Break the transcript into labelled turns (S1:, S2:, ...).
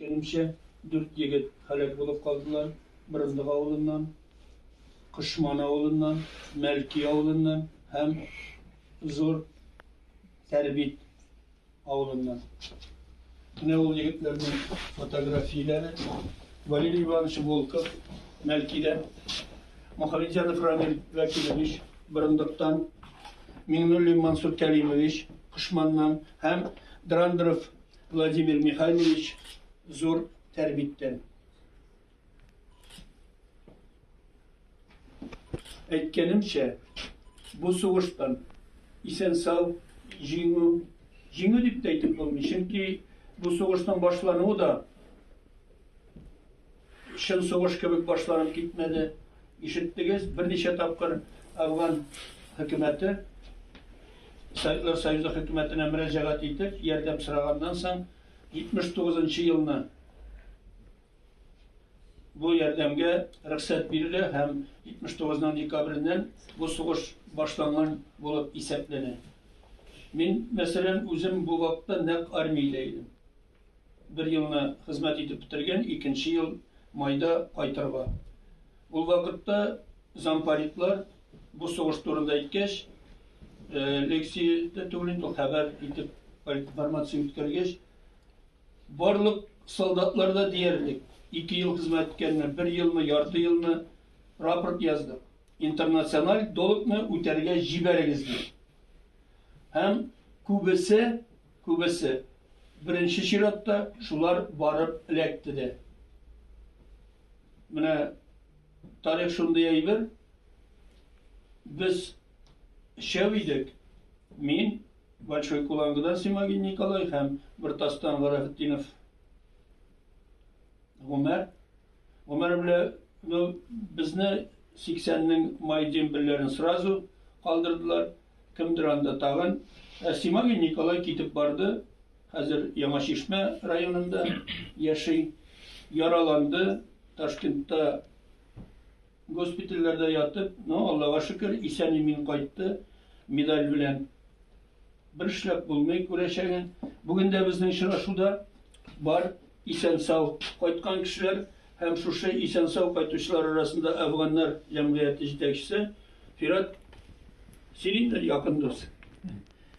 S1: Кәримчә, дүрт егет һәлак булып калдылар, Борындык авылыннан, Кошман авылыннан, Мәлки авылыннан һәм Зур Тәрбит авылыннан. Менә ул егетләрнең фотографияләре. Валерий Иванович Волков, Мәлкидән, Мухаметдянов Рамил Вәкилович, Борындыктан, Миңнуллин Мансур Кәримович, Кошманнан һәм Драндеров Владимир Михайлович зур тәрбиттән. Әйткәнемчә, бу сугыштан исән сау җиңү, җиңү дип тә әйтеп булмый, чөнки бу сугышның башлануы да Чын сугыш кебек башланып китмәде. Ишеттегез, берничә тапкыр Афган хөкүмәте Советлар Союзы хөкүмәтенә мөрәҗәгать итеп, ярдәм сораганнан соң, 79 нчы елны бу ярдәмгә рөхсәт бирелә һәм 79 ның декабреннән бу сугыш башланган булып исәпләнә. Мин, мәсәлән, үзем бу вакытта нәкъ армиядә идем. Бер елны хезмәт итеп бетергән, икенче ел майда кайтырга. Ул вакытта зампаритлар бу сугыш турында әйткәч, лекция дә түгел инде, хәбәр итеп политинформация үткәргәч, барлык солдатлар да диярлек ике ел хезмәт иткәннәр, бер елмы, ярты елмы рапорт яздык. Интернациональ долгны үтәргә җибәрегез дип. Һәм күбесе Күбесе, беренче чиратта, шулар барып эләкте дә. Менә тарих шундый әйбер. Без өчәү идек. Мин, Большой Кулангыдан Симагин Николай һәм Бертастан Гарәфетдинов Гомәр. Гомәр белә, ну, безне 80-нең май дембельләрен сразу калдырдылар. Кемдер анда тагын. Ә Симагин Николай китеп барды. Хәзер Яңа Чишмә районында яши. Яраланды. Ташкентта госпитальләрдә ятып, но Аллага шөкер, исән-имин кайтты медаль белән. Бер эшләп булмый күрәчәген. Бүген дә безнең очрашуда бар Исән-сау кайткан кешеләр һәм шушы исән-сау кайтучылар арасында Әфганнар җәмгыяте җитәкчесе Фират Силиннер якын дус.